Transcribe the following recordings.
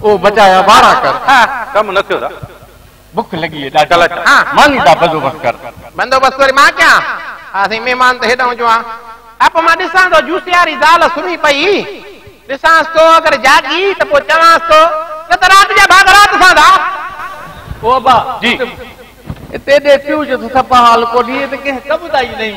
او بجايا وارا ڪر. ڪم نه ٿيو ته. بک لڳي اي ڏاڍي. ڪل اچان. ماني دا بزوبس ڪر. بندوبست وري مان ڪيان. ها سائين مهمان ته هيڏانهن جو آ. اپ مان ڏسان ٿو جوسياري زال سمهي پئي. ڏسانس ٿو اگر جاڳي ته پوء چوانس ٿو نه ته رات جا ڀاڳ رات سان ٿا. او ابا! جي. اتي ڏي پيو جو ٿٿ پهال ڪونهي ته ڪنهن ڪم تائين نهين.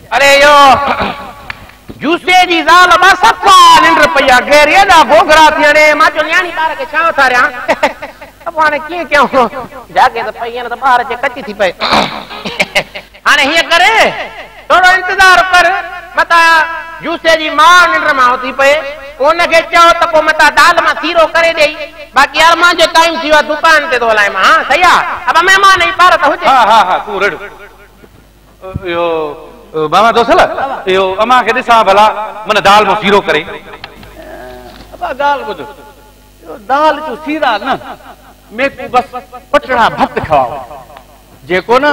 اڙي اهو جوسي جي زال به صفا ننڊ پئي آ غير ايڏا گوگرا ٿي هڻي مان چيو نياڻي ٻار کي ڇا اٿاريان ته پوء هاڻي ڪيئن ڪيائون جاڳي ته پئي نه ته ٻار جي ڪچي ٿي پئي هاڻي هيئن ڪر ٿورو انتظار ڪر متان جوسي جي ماء ننڊ مان اٿي پئي پوء ان کي چئو ته پوء متان دال مان سيرو ڪري ڏئي باقي ارمان جو ٽائيم ٿي ويو آ دڪان تي ٿو هلائين مان ها صحيح آ ابا مهمان اي ٻار ته هجي ها ها ها تون رڙ اهو بابا دوسل اهو امان کي ڏسان ڀلا من دال مان سيرو ڪري. ابا ڳالهه ٻڌ اهو دال جون سيرا نه ميڪون بس پٽڙا ڀت کواء جيڪو نه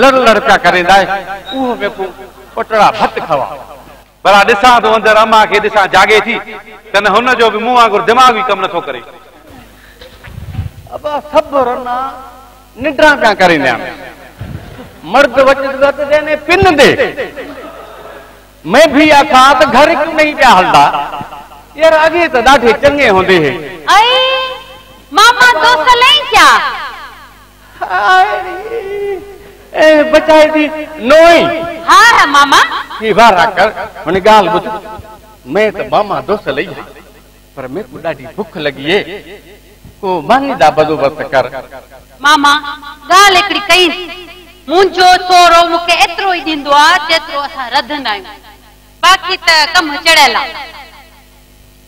لڙ لڙ پيا ڪريندا اهو ميڪون پٽڙا ڀت کواء. ڀلا ڏسان ٿو اندر امان کي ڏسان جاڳي ٿي ڪنه هن جو به مون وانگر دماغ ئي ڪم نه ٿو ڪري. ابا سڀ رنا ننڊران پيا ڪرين يا مرد وچ وت دي ني پن دي مين ڀي آکان ته گهر ڪيون نهي پيا هلدا يار اڳي ته ڏاڍي چڱي هوندي هي. اي ماما تو سلين ڪيا. اي بچائي دي نوئي. ها ها ماما. ڪي وارا ڪر هن ڳالهه ٻڌ. مين ته ماما دوسه لئي هئي پر ميڪو ڏاڍي بک لڳي اي ڪو ماني دا بدوبست ڪر. ماما ڳالهه هڪڙي ڪئين. منهنجو سهرو مون کي ايترو ئي ڏيندو آ جيترو اسان رڌندا آهيون. باقي ته ڪم چڙهيل آ.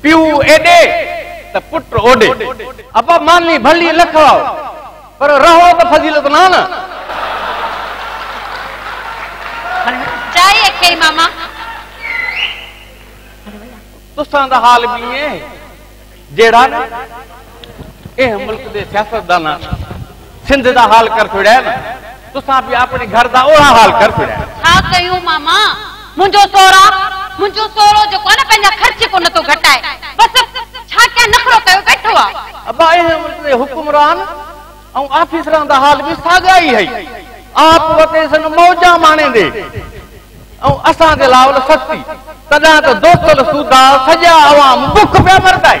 پيو ايڏي ته پٽ اوڏي. ابا ماني ڀلي نه کائو پر رهو ته فضيلت نانه. چائي اکيئي ماما. تسان دا حال به ائين جهڙا نه. ايهه ملڪ دي سياستدانن سنڌ دا حال ڪر ڇوڙيا آهن تسان به آپڙي گهر دا اوڙا حال ڪر ڇوڙيا آهن. ڇا ڪيون ماما منهنجو سورا منهنجو سورو جيڪو آهي نه پنهنجا خرچ ڪو نٿو گهٽائي بس ڇا ڪيان نخرو ڪيو ويٺو آ. ابا ايهه ملڪ دي حڪمران ۽ آفيسران دا حال به ساڳيا ئي هئي آپ وتي سن موجان ماڻيندي ۽ اسان دي لاول سستي تڏهن ته دوستل سوڌا سڄا عوام بک پيا مرتائي.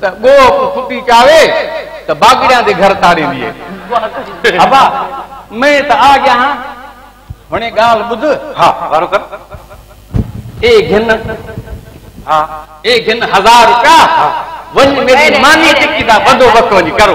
ته ڳوهه ڪو ڦٽي چاوي ته باگڙيان جي گهر تاڙيندي اي. ابا، مين ته آ ڳيا هان، هڻي ڳالهه ٻڌ. ها، وارو ڪر. اي گهن. ها. اي گهن هزار روپيا. ها. وڃ ميري مانيء ٽڪي دا بندوبست وڃي ڪرو.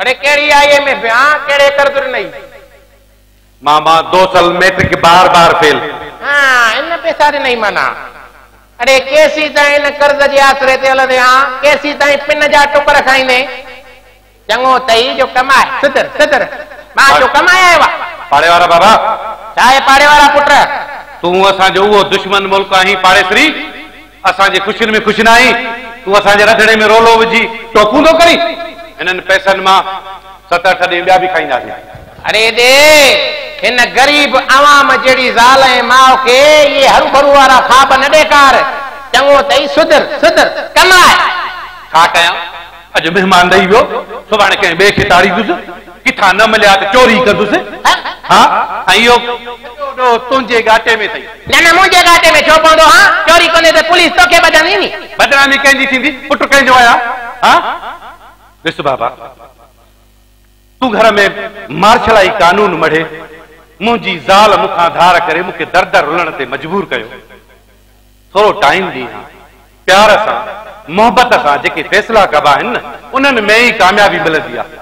اڙي ڪهڙي آئي ايم اي ڀيان ڪهڙي قرض ڏنئي. ماما دوسل ميٽرڪ بار بار فيل. هان ان پيسا ڏنئي معنيٰ. اڙي ڪيسين تائين ان قرض جي آسري تي هلندين هان ڪيسين تائين پن جا ٽڪر کائيندين. چڱو اٿئي جو ڪمائي. سڌر سڌر مان جو ڪمائي آيو آ. پاڙي وارا بابا. ڇا اي پاڙي وارا پٽ. تون اسان جو اهو دشمن ملڪ آهين پاڙيسري. اسان جي خوشين ۾ خوش ناهين، تون اسان جي رڌڻي ۾ رولو وجهي ٽوڪون ٿو ڪرين؟ هنن پئسن مان ست اٺ ڏي ٻيا به کائينداسين. اڙي ڏي هن غريب عوام جهڙي زال ۽ ماء کي اهي هروڀرو وارا خواب نه ڏيکار، چڱو اٿئي سڌر سڌر ڪماء. ڇا ڪيان؟ اڄ مهمان ڏئي ويو، سڀاڻي ڪنهن ٻئي کي تاڙيندس، ڪٿان نه مليا ته چوري ڪندس، ها، ۽ اهو سڄو ڏوهه تنهنجي ڳاٽي ۾ اٿئي. نه نه، منهنجي ڳاٽي ۾ ڇو پوندو، ها، چوري ڪندين ته پوليس توکي ٻڌندي ني. بدنامي ڪنهن جي ٿيندي، پٽ ڪنهن جو آهيان، ها. ڏس بابا، تون گهر ۾ مارشلائي قانون مڙهي، منهنجي زال مون کان ڌار ڪري مون کي در در رلڻ تي مجبور ڪيو. ٿورو ٽائيم ڏي ها. پيار سان، محبت سان جيڪي فيصلا ڪبا آهن نه، انهن ۾ ئي ڪاميابي ملندي آهي.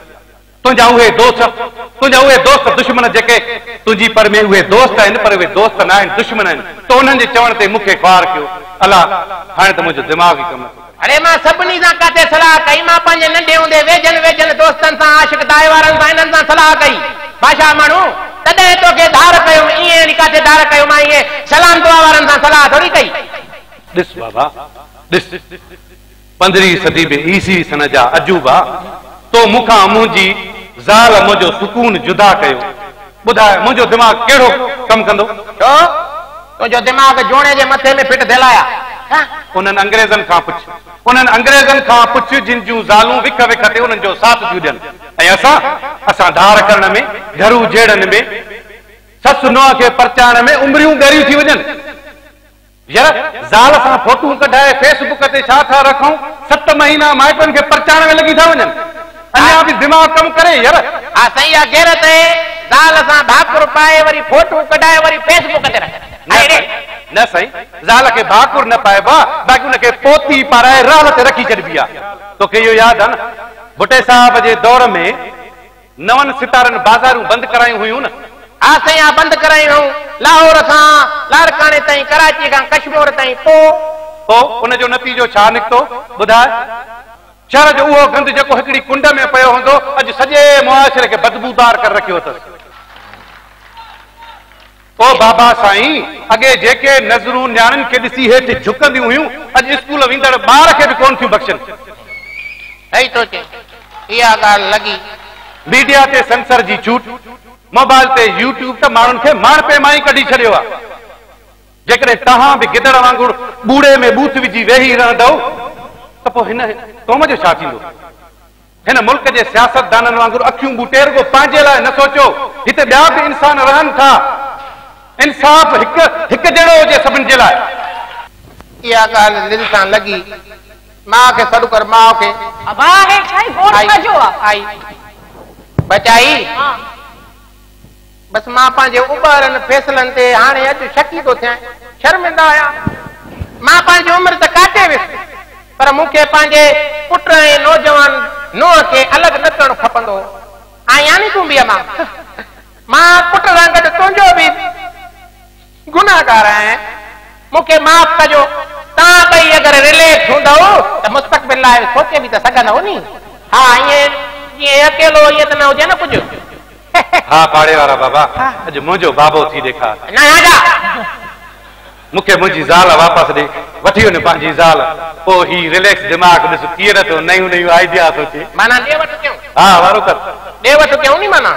تنهنجا اهي دوست، تنهنجا اهي دوست دشمن جيڪي تنهنجي پر ۾ اهي دوست آهن پر اهي دوست ناهن، دشمن آهن. تو انهن جي چوڻ تي مون کي خوار ڪيو. الله! هاڻي ته منهنجو دماغ ئي ڪم نٿو ڪري. اڙي مان سڀني سان ڪاٿي صلاح ڪئي، مان پنهنجي ننڍي هوندي ويجهن ويجهن دوستن سان، عاشق دائي وارن سان، انهن سان صلاح ڪئي. باشا ماڻهو! تڏهن توکي ڌار ڪيم، ائين اڙي ڪاٿي ڌار ڪيو، مان ايئن سلام دعا وارن سان صلاح ٿوري ڪئي. ڏس بابا ڏس، پندرهين صدي ۾ عيسوي سن جا عجوبا، تو مون کان منهنجي زال منهنجو سڪون جدا ڪيو. ٻڌاء، منهنجو دماغ ڪهڙو ڪم ڪندو؟ ڇو؟ تنهنجو دماغ جوڻي جي مٿي ۾ فٽ ٿيل آهيا. انهن انگريزن کان پڇ، انهن انگريزن کان پڇ جن جون زالون وک وک تي انهن جو ساٿ ٿيون ڏين ۽ اسان، اسان ڌار ڪرڻ ۾، گهرو جهيڙن ۾، سس نونهن کي پرچائڻ ۾ عمريون ڳريون ٿي وڃن. ير زال سان فوٽون ڪڍائي فيس بڪ تي ڇا ٿا رکون ست مهينا مائٽن کي پرچائڻ ۾ لڳي ٿا وڃن اڃا به دماغ ڪم ڪري ير. ها سائين اها غيرت اهي زال سان ڀاڪر پائي وري فوٽون ڪڍائي وري فيس بڪ تي رکن نه اهي سائين نه سائين زال کي ڀاڪر نه پائبو آ باقي ان کي پوتي پارائي رال تي رکي ڇڏبي آ توکي اهو ياد آ نه ڀٽي صاحب جي دور ۾ نون ستارن بازارون بند ڪرايون هيون نه؟ ها سائين ها بند ڪرايون هيون لاهور کان لاڙڪاڻي تائين ڪراچي کان ڪشمور تائين پو؟ پو ان جو نتيجو ڇا نڪتو ٻڌاء؟ شهر جو اهو گند جيڪو هڪڙي ڪنڊ ۾ پيو هوندو اڄ سڄي معاشري کي بدبودار ڪري رکيو اٿس. او بابا سائين، اڳي جيڪي نظرون نياڻين کي ڏسي هيٺ جهڪنديون هيون، اڄ اسڪول ويندڙ ٻار کي به ڪونه ٿيون بخشن. صحيح ٿو چئين، اها ڳالهه لڳي. ميڊيا تي سينسر جي ڇوٽ، موبائل تي يوٽيوب ته ماڻهن کي ماڻهپي مان ئي ڪڍي ڇڏيو آهي. جيڪڏهن توهان به گدڙ وانگر ٻوڙي ۾ ٻوٿ وجهي ويهي رهندؤ ته پوء هن قوم جو ڇا ٿيندو؟ هن ملڪ جي سياستدانن وانگر اکيون ٻوٽي رڳو پنهنجي لاء نه سوچو، هتي ٻيا به انسان رهن ٿا. انصاف هڪ هڪ جهڙو هجي سڀن جي لاء. اها ڳالهه دل سان لڳي. ماء کي سڏ ڪر ماء کي. ابا هي ڇا آهي گوڙ ڇا جو آ. آئي بچائي. بس مان پنهنجي اٻهرن فيصلن تي هاڻي اڄ شڪي ٿو ٿيان. شرمنده آهيان. مان پنهنجي عمر ته ڪاٽي ويس پر مون کي پنهنجي پٽ ۽ نوجوان نوح کي الڳ نه ڪرڻ کپندو هو. آئين يعني تون به امان. مان پٽ سان گڏ تنهنجو به. گنهگار آهيان، مون کي معاف ڪجو. توهان ٻئي اگر رليڪس هوندؤ ته مستقبل لاء سوچي به ته سگهندؤ ني. ها ائين جيئن اڪيلو ائين ته نه هجي نه ڪجهه. هه. ها پاڙي وارا بابا اڄ منهنجو بابو ٿي ڏيکار. نه ها جا. مون کي منهنجي زال واپس ڏي. وٺي وڃ پنهنجي زال. پوء هي رليڪس دماغ ڏس ڪيئن نه ٿو نيون نيون آئيڊيا سوچي. معنيٰ ڏي وٺ ڪيون. ها وارو ڪر. ڏي وٺ ڪيون ني معنيٰ.